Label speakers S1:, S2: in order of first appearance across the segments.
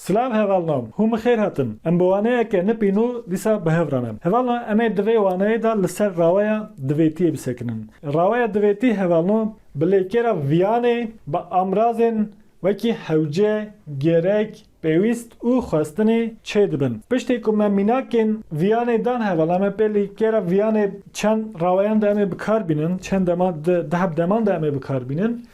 S1: Silav hevalno, hûn bi xêr hatin. Em bi waneyeke ne pînû dîsa bi hev re ne. Hevalno em ê di vê waneyê de li ser raweya divêtiyê bisekinin. Raweya divêtî hevalno bi lêkêra viyanê, bi amrazên wekî hewce, gerek, Pêwîst û xwestinê çê dibin. Piştê ku me mînakên viyanê dan heva la me pê li kêra viyanê çend raweyan de em ê bikar bînin, çend dema di di heb deman de em ê bikar bînin.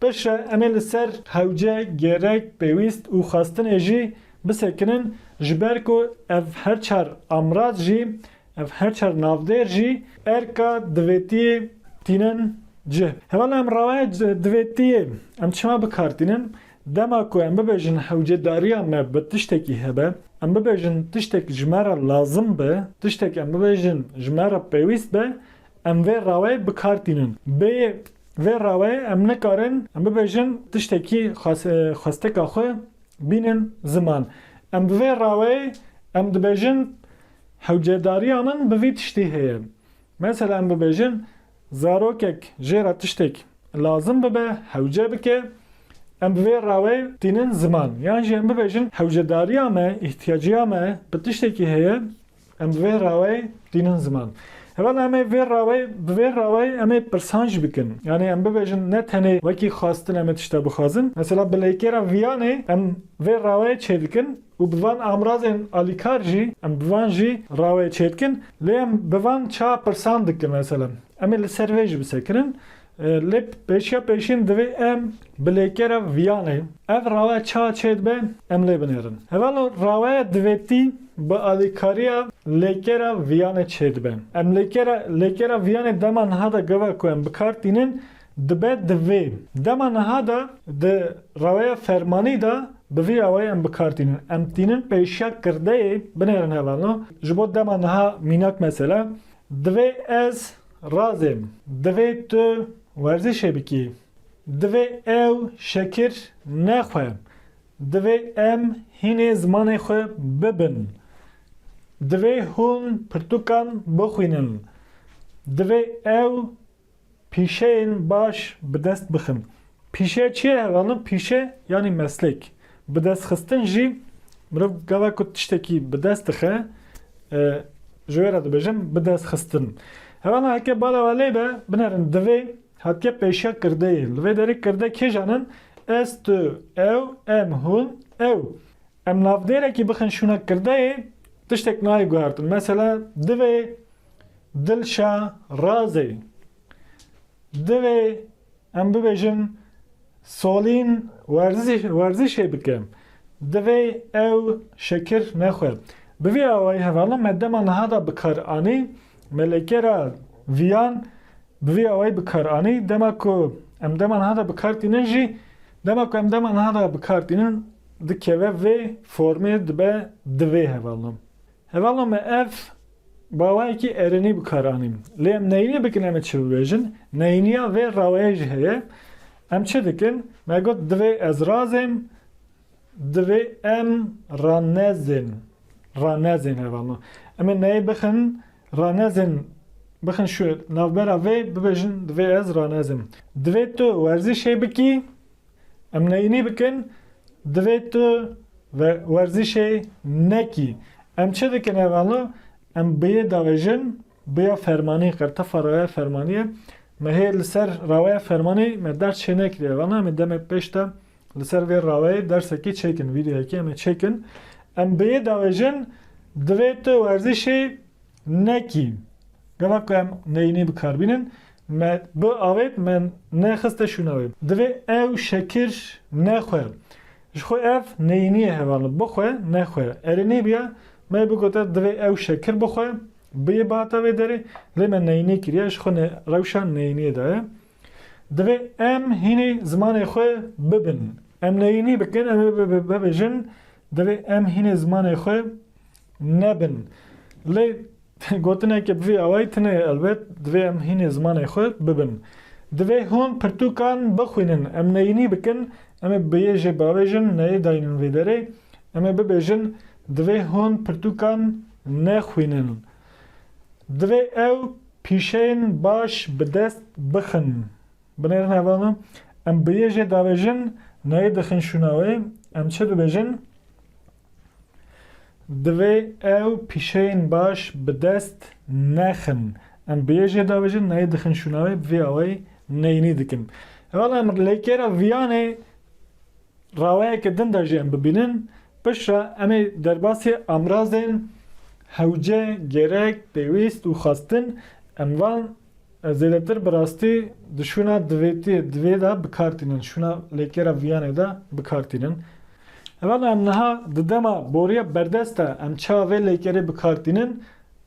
S1: Pişre em ê li ser hewce, gerek, pêwîst û xwestinê jî bisekinin ji ber ku ev her çar amraz jî, ev her çar navdêr jî erka divêtiyê tînin cih. Heva la em rawaya divêtiyê em çima bikar tînin? Dema ku em bibêjin hewcedariya me bi tiştekî hebe, em bibêjin tiştek ji me re lazim be, tiştek em bibêjin ji me re pêwîst be, em vê rawayê bi kar tînin. Bê vê rawayê em nikarin em bibêjin tiştekî xwesteka xwe bînin ziman. Em bi vê rawayê em dibêjin hewcedariya min bi vî tiştî heye. Mesela em bibêjin Zarokek jê re tiştêk lazim bibe hewce bike, em bi vê rewê tînin ziman. Yan jî em bibêjin hewcedariya me, îhtîyaciya me bi tiştekî heye, em bi vê rewê tînin ziman. Heval em ê vê rewê, bi vê rewê em ê pirsan jî bikin. Yanî em bibêjin ne tenê wekî xwestin em ê tişt de bixwazin. Mesela bi lêkêra viyanê em vê rewê çêdikin, Û bi van amrazên alîkar jî em bi van jî rawayê çêdikin. Lê em bi van çawa pirsan dikin mesela. Em ê li ser vê jî bisekirin. Lê pêşiya pêşîn divê em bi lêkera viyanê ev rawe çawa çêdibe em lê binêrin. Heval o rawaya divêtî bi alîkariya lêkera viyanê çêdibe. Em lêkera lêkera viyanê dema niha de gava ku em bikar tînin Dibe di vê dema niha de di reweya fermanî de bi vî awayî em bi kar tînin. Em tînin pêşiya kirdeyê binêrin heval no. Ji bo dema niha mînak mesele divê ez razêm, divê tu werzîşê bikî, divê ew şekir nexwe, divê em hînê zimanê xwe bibin, divê hûn pirtûkan bixwînin, divê ew Pîşeyên baş bi dest bixin. Pîşe çiye hevalin? Pîşe yanî meslek. Bi dest xistin jî mirov gava ku tiştekî bi dest dixe ji wê re dibêjin bi dest xistin. Hevalin heke bala we lê be binerin divê hatiye pêşiya kirdeyê. Li vê derê kirde kêjan in? Ez, tu, ew, em, hûn, ew. Em navdêrekî bixin şûna kirdeyê tiştek nayê guhertin. Mesela divê Dilşa Razê, Divê em bibêjin Solîn werzişê bike, divê ew şekir nexwe. Bi vî awayî hevala me dema niha de bi kar anî, me li kera viyan bi vî awayî bi kar anî, dema ku em dema niha de bi kar tînin jî, dema ku em dema niha de bi kar tînin dikeve vê formê dibe divê hevala. Hevala me ev Rawayekî erinî bi kar anîn. Lê em neyînî bikin em ê çi bibêjin? Neyîniya vê rawayê jî heye. Em çi dikin? Me got divê ez razêm, divê em ranezên. Ranezên heva me. Em ê neyê bixin ranezên bixin şû navbera vê bibêjin divê ez ranezêm. Divê tu werzîşê bikî. Em neyînî bikin, divê tu ve werzîşê nekî. Em çi dikin ev ala? Em biyê davêjin, biya fermanî, qertefa rawaya fermanî ye. Me hê li ser rawaya fermanî me ders çênekiriye. Ev ana em ê demê pêş de li ser vê rawayê dersekî çêkin, vîdeoyekî em ê çêkin. Em biyê davêjin, divê tu werzîşê. Nekî. Gava ku em neyînî bikar bînin me bi avêt me nexiste şûna wê. Divê ew şekir nexwe. Ji xwe ev neyîniyê heval in. Bixwe nexwe. Erê nêbîya me bigote divê ew şekir bixwe biyê bihata vê derê lê me neyînî kiriye ji xwe rewşa neyîniyê de ye. Divê em hînî zimanê xwe bibin. Em neyînî bikin em ê bibêjin Divê em hînê zimanê xwe nebin. Lê gotineke bi vî awayî tune ye elbet, divê em hînê zimanê xwe bibin. Divê hûn pirtûkan bixwînin, em neyînî bikin, em ê bi yê jê bavêjin neyê dayînin vê derê, em ê bibêjin divê hûn pirtûkan nexwînin. Divê ew pîşeyên baş bi dest bixin. Binêrin heva min, em bi yê jê davêjin nayê dixin şûna wê, em çi bibêjin? Divê ew pîşeyên baş bi dest nexin. Em bi yê jê davêjin nayê dixin şûna wê, vê awayî neyînî dikin. Heval em lê kêra viyanê rawayeke din de jî em bibînin, piştre em ê derbasî amrazên hewce, gerek, pêwîst û xwestin em van Ez zêdetir bi rastî di şûna divêtiyê, divê de bikar tînin, şûna lêkêra viyanê de bikar tînin. Hevalna em niha di dema boriya berdest de em çawa vê lêkerê bikar tînin,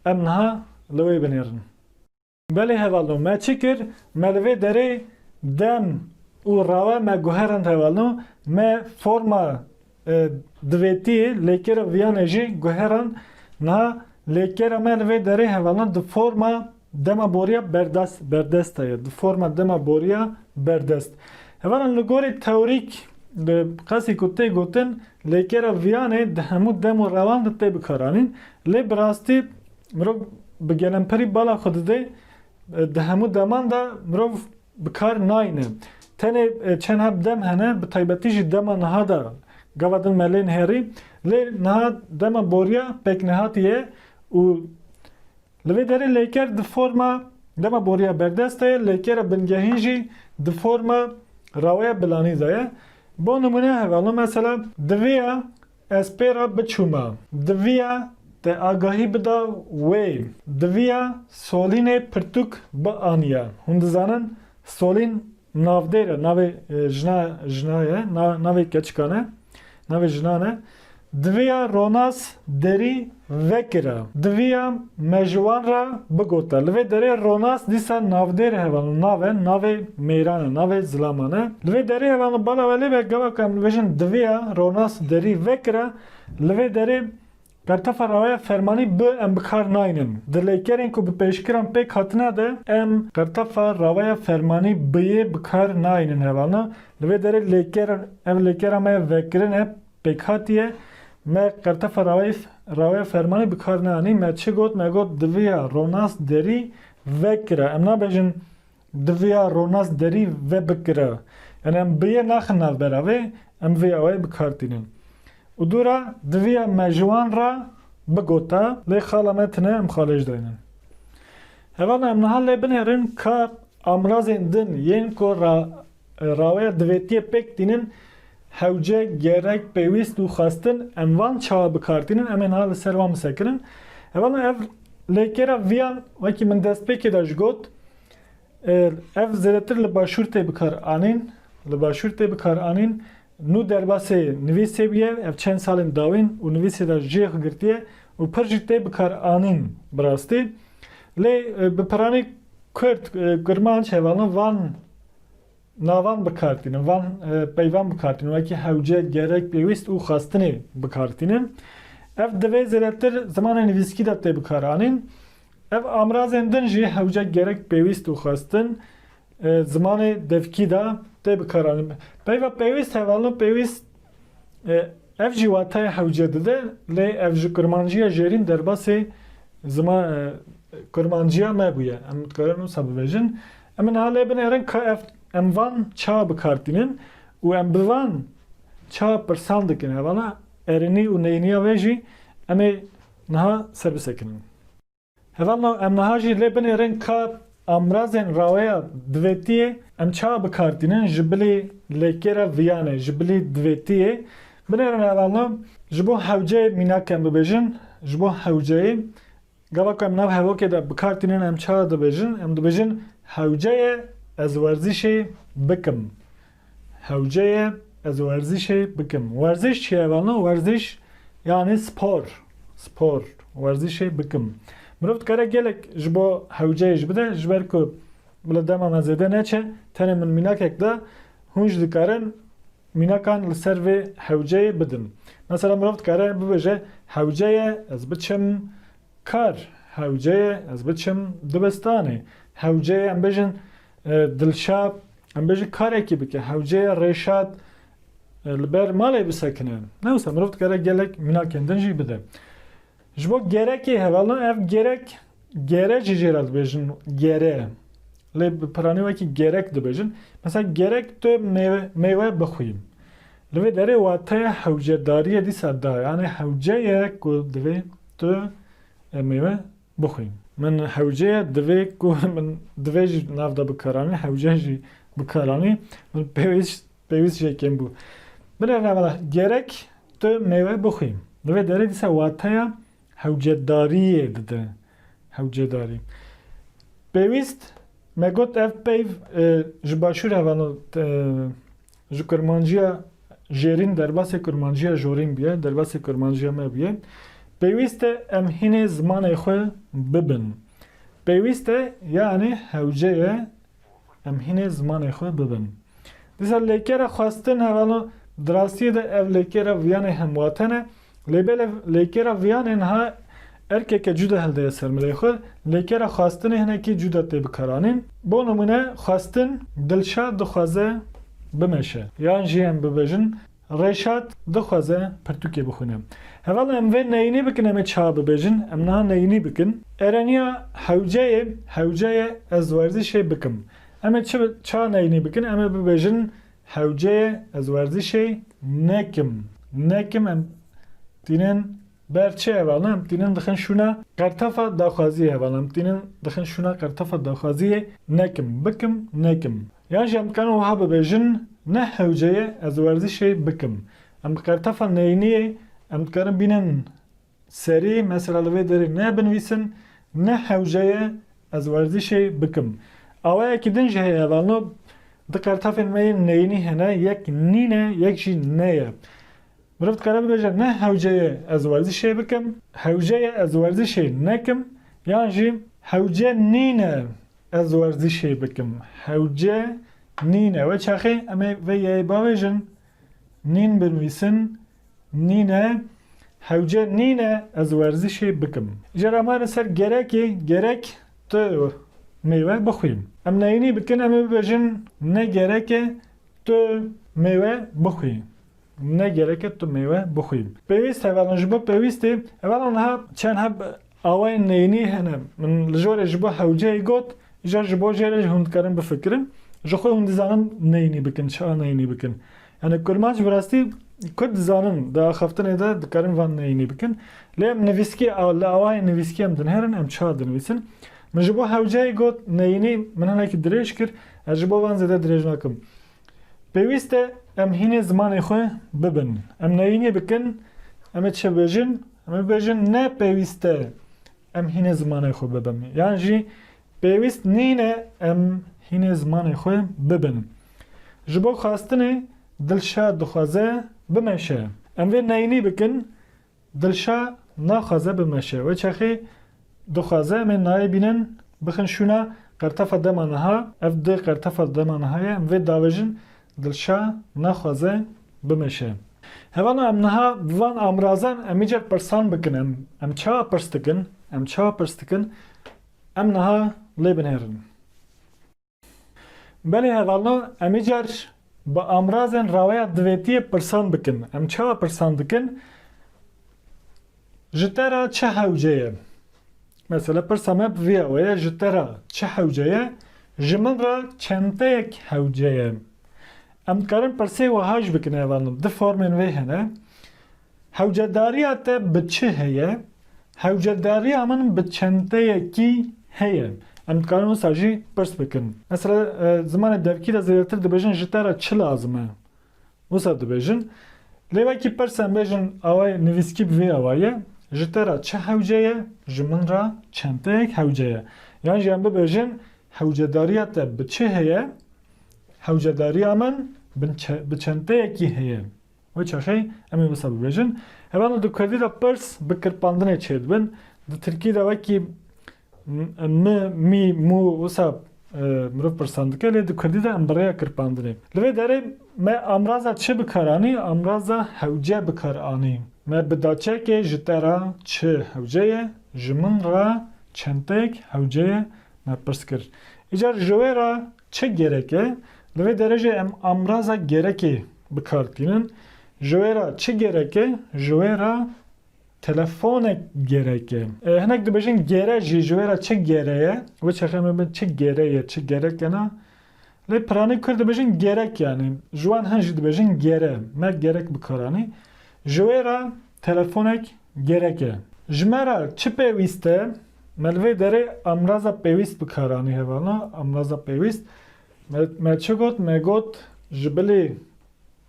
S1: em niha li wê binêrin. Belê hevalno me çi kir, me li vê derê dem û rawe me guherand hevalno me forma Divê tî lêkera viyanê jî guheran niha lêkera me li vê derê hevalan di forma dema boriya berdest berdest de ye. Di forma dema boriya berdest. Hevalan li gorî tewrîk li qasî ku tê gotin lêkera viyanê di hemû dem û rewan de tê bikaranîn. Lê bi rastî mirov bi gelemperî bala xwe dide di hemû deman de mirov bi kar nayne. Tenê çend heb dem hene bi taybetî jî dema niha de gava din me lên herî lê niha dema boriya pêknehatî ye û li vê derê lêker di forma dema boriya berdest de ye lêkera bingehîn jî di forma raweya bilanî de ye. Bo nimûne hevalin mesela di vê ya Ez pê re biçûme. Diviya te agahî bida wê. Diviya Solînê pirtûk bianiye. Hûn dizanin Solîn navdêr e, navê jina jina ye, navê keçikan e, navê jinan e. Diviya Ronas derî Vekira. Diviya me ji wan re bigota. Li vê derê Ronas dîsa navdêr heval in. Nave, navê mêran e, navê zilaman e. Li vê derê heval in bala we lê be gava ku em dibêjin diviya Ronas derî vekira, li vê derê pertefa rawaya fermanî bi em bi kar naynin. Di lêkerên ku bi pêşkiran pêk hatine de em pertefa rawaya fermanî biyê bi kar naynin heval in. Li vê derê lêker, ev lêkera me ye vekirin e. Pêkhatiye, Me Qertefa Raweyf, Raweya Fermanî bi kar neanî, me çi got, me got diviya ronas derî vekira. Em nabêjin diviya ronas derî vebikira. Yanî em bi yê naxin navbera vê, em vê awayî bi kar tînin. Û dû ra diviya me ji wan ra bigota, lê xala me tine em xalêj daynin. Hevana em niha lê binêrin ka amrazên din yên ku Raweya divêtiyê pêk tînin hewce, gerek, pêwîst û xwestin em van çawa bikartînin em ê niha li ser wan bisekirin. Hevala ev lêkêra viyan wekî min destpêkê de ji got ev zêdetir li başûr tê bikaranîn li başûr tê bikaranîn nû derbasê nivîsê bûye ev çend salên dawîn û nivîsê de jê xwe girtiye û pir jî tê bikaranîn bi rastî lê bi piranî kurd kurmanc hevalina van Navan bi kar tînin. Van peyvan bi kar tînin. Wekî hewce, gerek, pêwîst û xwestinê bi kar tînin. Ev divê zêdetir zimanê nivîskî de tê bi kar anîn. Ev amrazên din jî hewce, gerek, pêwîst û xwestin zimanê devkî de tê bi kar anîn. Peyva pêwîst hevalino pêwîst ev jî wateyê hewce dide lê ev ji kurmanciya jêrîn derbasê kurmanciya me bûye. Em dikarin wisa bibêjin. Em ê niha lê binêrin ka ev em van çawa bi kar tînin û em bi van çawa pirsan dikin. Hevala erênî û neyîniya wê jî em ê niha ser bisekinin. Hevalno em niha jî lê binêrin ka amrazên raweya divêtiyê em çawa bi kar tînin ji bilî lêkêra viyanê, ji bilî divêtiyê. Binêrin hevalno ji bo hewceyê mînak em bibêjin, ji bo hewceyê. Gava ku em nav hevokê de bi kar tînin em çi dibêjin? Em dibêjin hewce ye ez werzîşê bikim. Hewce ye ez werzîşê bikim. Werziş çi ye vano? Werziş yanî spor. Spor. Werzîşê bikim. Mirov dikare gelek ji bo hewceyê jî bide ji ber ku bila dema me zêde neçe tenê min mînakek de hûn jî dikarin Mînakan li ser vê hewceyê bidin. Mesela mirov dikare bibêje hewceye ez biçim kar, hewceye ez biçim dibistanê, hewceye em bêjin Dilşad em bêjin karekî bike, hewceye Rêşad li ber malê bisekine. Ne wisa mirov dikare gelek mînakên din jî bide. Ji bo gerekê hevalan ev gerek gere jî jê re dibêjin gere. Lê bi piranî wekî gerek dibêjin. Mesela gerek tu mêwe mêwe bixwî. Li vê derê wateya hewcedariyê dîsa da yanê hewce ye ku divê tu mêwe bixwî. Min hewce ye divê ku min divê jî nav da bikaranî hewce jî bikaranî. Min pêwîst Pêwîst jê kêm bû. Binêr navenda, Gerek tu mêwe bixwî. Li vê derê dîsa wateya hewcedariyê dide. Hewcedarî. Pêwîst, me got ev peyv ji başûr re vano ji kurmanciya jêrîn derbasê kurmanciya jorîn bûye, derbasê kurmanciya me bûye. Pêwîst e em hînê zimanê xwe bibin. Pêwîst e yanî hewce ye. Em hînê zimanê xwe bibin. Dîsa lêkera xwestin hevalno di rastiyê de ev lêkera viyanê hemwaten e, lê bêlev lêkera viyanê niha erkeke cuda hildeye ser milê xwe, lêkera xwestinê hinekî cuda tê bikaranîn. Bo nimûne, xwestin, Dilşad dixwaze bimeşe. Yan jî em bibêjin, Reşat dixwaze pirtûkê bixwîne. Heval em vê neyînî bikin em ê çawa bibêjin? Em niha neyînî bikin. Ereniya hewceyê Hewce ye ez werzîşê bikim. Em ê çi çawa neyînî bikin? Em ê bibêjin Hewce ye ez werzîşê nekim. Nekim em tînin Berçê hevalan tînin dixin şûna qertefa daxwaziyê hevalan tînin dixin şûna qertefa daxwaziyê nekim bikim nekim yan jî em dikarin wiha bibêjin ne hewce ye ez werzîşê bikim em bi qertefa neyîniyê em dikarin bînin serî mesela li vê derê ne binivîsin ne hewce ye ez werzîşê bikim awayekî din jî heye hevalno di qertefên me yên neyînî hene yek nîne yek jî ne ye Meriv dikare bibêje ne hewce ye ez werzişê bikim, hewce ye ez werzişê nekim yan jî hewce nîne ez werzişê bikim, hewce nîne. Wê çaxê em ê vê yeyê bavêjin, nîn binivîsin, nîne, hewce nîne ez werzişê bikim. Îcar em mane ser gerekê, gerek tu mêwe bixwî. Em neyînî bikin em ê bibêjin ne gerek e tu mêwe bixwî. Ne gereke tu mêwe bixwî. Pêwîst hevalên ji bo pêwîstê hevalan niha çend heb awayên neyînî hene. Min li jorê ji bo hewceyê got, îcar ji bo jê re jî hûn dikarin bifikirin. Ji xwe hûn dizanin neyînî bikin, çiha neyînî bikin. Yanî kurmanc bi rastî kurd dizanin, di axaftinê de dikarin van neyînî bikin. Lê em nivîskî li awayên nivîskî em dinêrin, em çiha dinivîsin. Min ji bo hewceyê got, neyînî, min hinekî dirêj kir, ez ji bo van zêde dirêj nakim. Pêwîst e em hînê zimanê xwe bibin. Em neyînê bikin, em ê çi bêjin? Em ê bêjin ne pêwîst e em hînê zimanê xwe bibin. Yan jî pêwîst nîne em hînê zimanê xwe bibin. Ji bo xwestinê dilşad dixwaze bimeşe. Em vê neyînî bikin. Dilşa naxwaze bimeşe. Wê çaxê dixwaze em ê nayê bînin, bixin şûna qertefa dema niha. Ev di qertefa dema niha ye. Em vê diavêjin Dilşa naxwaze bimeşe. Hevana em niha bi van amirazan em îcar pirsan bikin em em çawa pirs dikin? Em çawa pirs dikin? Em niha lê binêrin. Belê hevalna, em ê car bi amrazên raweya divêtiyê pirsan bikin. Em çawa pirsan dikin? Ji te re çi hewce ye? Mesela pirsa me bi vî awe ye, ji te re çi hewce ye? Ji min re çenteyek hewce ye. Em dikarin pirsê wiha jî bikin hevalna, du formên wê hene. Hewcedariya te bi çi heye? Hewcedariya min bi çenteyekî heye. Em dikarin wisa jî pirs bikin. Mesela zimanê devkî de zêdetir dibêjin ji te re çi lazim e? Wisa dibêjin. Lê wekî pirs em bêjin awayê nivîskî bi vê awayî ye, Ji te re çi hewce ye? Ji min re çenteyek hewce ye. Yan jî em bibêjin Hewcedariya te bi çi heye? Hewcedariya min bi çenteyekî heye. Wê çaxê em ê wisa bibêjin. Heval di kurdî de pirs bi kirpandinê çêdibin. Di tirkî de wekî mi, mî, mû wisa mirov pirsan dike lê di kurdî de em bi rêya kirpandinê. Li vê derê me amraza çi bi kar anî? Amraza hewce bi kar anî. Me bi daçekê ji te re çi hewce ye, ji min re çenteyek hewce ye me pirs kir. Îcar ji wê re Çi gerek e? Li vê derejê em amraza gerekê bi kar tînin. Ji wê re çi gerek e? Ji wê re telefonek gerek e. Hinek dibêjin gere jî ji wê re çi gere ye? Wê çaxê em ê bin çi gere ye, çi gerek e na. Lê piranî kurd dibêjin gerek yanî. Ji wan hin jî dibêjin gere. Me gerek bi kar anî. Ji wê re Telefonek gerek e. Ji me re çi pêwîst e? Me li vê derê amraza pêwîst bi kar anî hevana, amraza pêwîst. Me me çi got? Me got ji bilî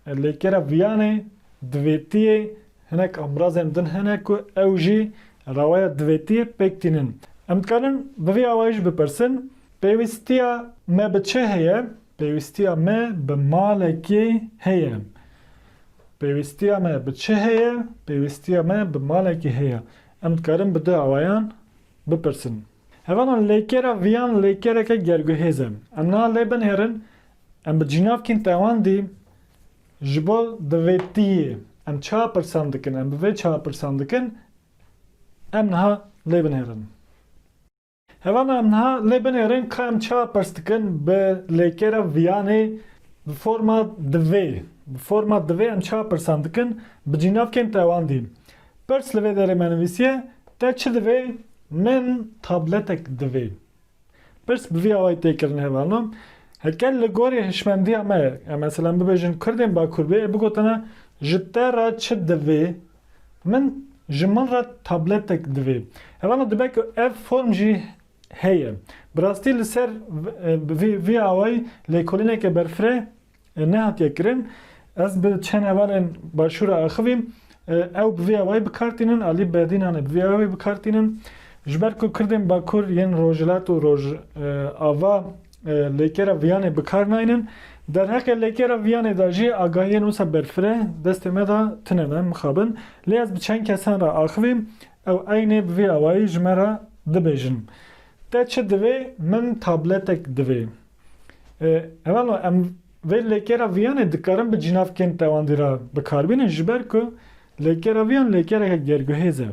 S1: lêkera viyanê, divêtiyê hinek amrazên din hene ku ew jî raweya divêtiyê pêk tînin. Em dikarin bi vî awayî jî bipirsin, Pêwîstiya me bi çi heye? Pêwîstiya me bi malekê heye. Pêwîstiya me bi çi heye? Pêwîstiya me bi malekî heye. Em dikarin bi du awayan bipirsin. Hevalan lêkera viyan lêkereke gerguhêz e. Em niha lê binêrin em bi cînavkên te wan dî ji bo divêtiyê em çiha pirsan dikin, em bi vê çiha pirsan dikin em niha lê binêrin. Hevana em niha lê binêrin ka em çawa pirs dikin bi lêkêra viyanê bi forma divê. Bi forma divê em çawa pirsan dikin bi cînavkên tewandî. Pirs li vê derê me nivîsiye, Te çi divê? Min tabletek divê. Pirs bi vî awayî tê kirin hevano. Heke li gorî hişmendiya me, em meselan bibêjin kurdên Bakur bê, bigotina ji te re çi divê? Min ji min re tabletek divê. Hevana dibe ku ev form jî heye. Bi rastî li ser vê vê awayî lêkolîneke berfireh nehatiye kirin. Ez bi çend hevalên Başûr re axivîm. Ew bi vê awayî bikar tînin, alî berdînan e bi vê awayî bikar tînin. Ji ber ku Kurdên Bakur yên Rojhilat û Rojava Lêkera viyanê bi kar naynin. Derheqê lêkera viyanê de jî agahiyên wisa berfireh destê me de tune ne, mixabin. Lê ez bi çend kesan re axivî ew eynê bi vî awayî ji me re dibêjin. Te çi divê? Min tabletek divê. Ewalo em vê lêkera viyanê dikarin bi cinavkên tewandî re bi kar bînin ji ber ku lêkera viyan lêkereke gerguhêz e.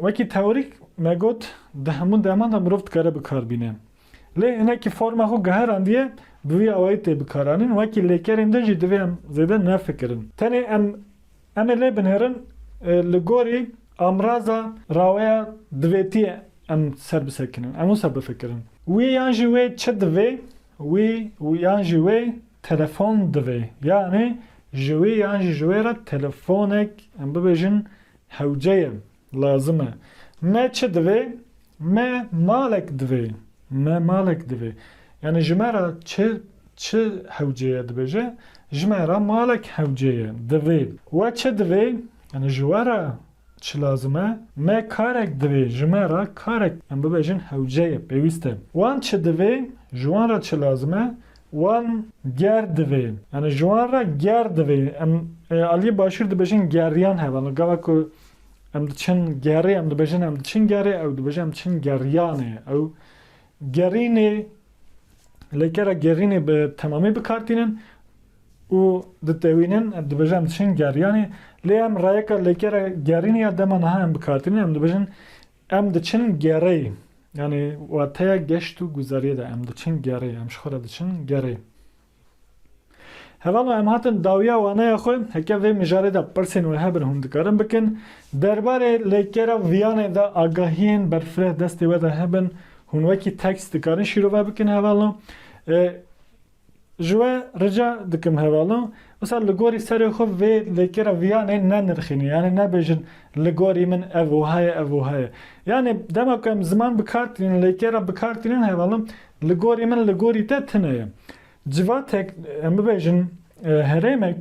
S1: Wekî teorîk me got di hemû deman de mirov dikare bikarbîne. Lê hinekî forma xwe guherandiye bi vî awayî tê bikaranîn. Wekî lêkerên din jî divê em zêde nefikirin. Tenê em em ê lê binêrin li gorî amraza raweya divêtiyê em ser bisekinin. Em wisa bifikirin. Wî yan jî wê çi divê? Wî yan jî wê telefon divê. Yanî ji wî yan jî ji wê re telefonek em bibêjin Hewce ye, lazim e. Me çi divê? Me malek divê. Me malek divê. Yanî ji me re çi, çi hewce ye dibêje? Ji me re malek hewce ye, divê. We çi divê? Yanî ji we re çi lazim e? Me karek divê. Ji me re karek, em bibêjin hewce ye, pêwîst e. Wan çi divê? Ji wan re çi lazim e? Wan ger divê. Yanî ji wan re ger divê. Em ê aliyê başûr dibêjin geriyan hebe. Yanî gava ku em diçin gerê em dibêjin em diçin gerê ew dibêje em diçin geriyanê. Ew gerînê lê kera gerînê bi temamî bikartînin û ditewînin em dibêje em diçin geriyanê. Lê em rayeka lêkera gerînê ya dema niha em bikartînin em dibêjin Em diçin gerê. Yanî wateya geşt û guzeriyê de em diçin gerê, em ji xwe re diçin gerê. Hevalno em hatin dawiya waneya xwe, heke vê mijarê de pirsên wê hebin hûn dikarin bikin, derbarê lêkera viyanê de agahiyên berfireh destê we de hebin hûn wekî tekst dikarin şîrove bikin hevalno. Ji we rica dikim hevalan wisa li gorî serê xwe vê lêkêra viyanê nenirxînî yanî nebêjin li gorî min ev wiha ye ev wiha ye. Yanî dema ku em ziman bi kar tînin lêkêra bi kar tînin hevalan li gorî min li gorî te tune ye. Civatek em bibêjin herêmek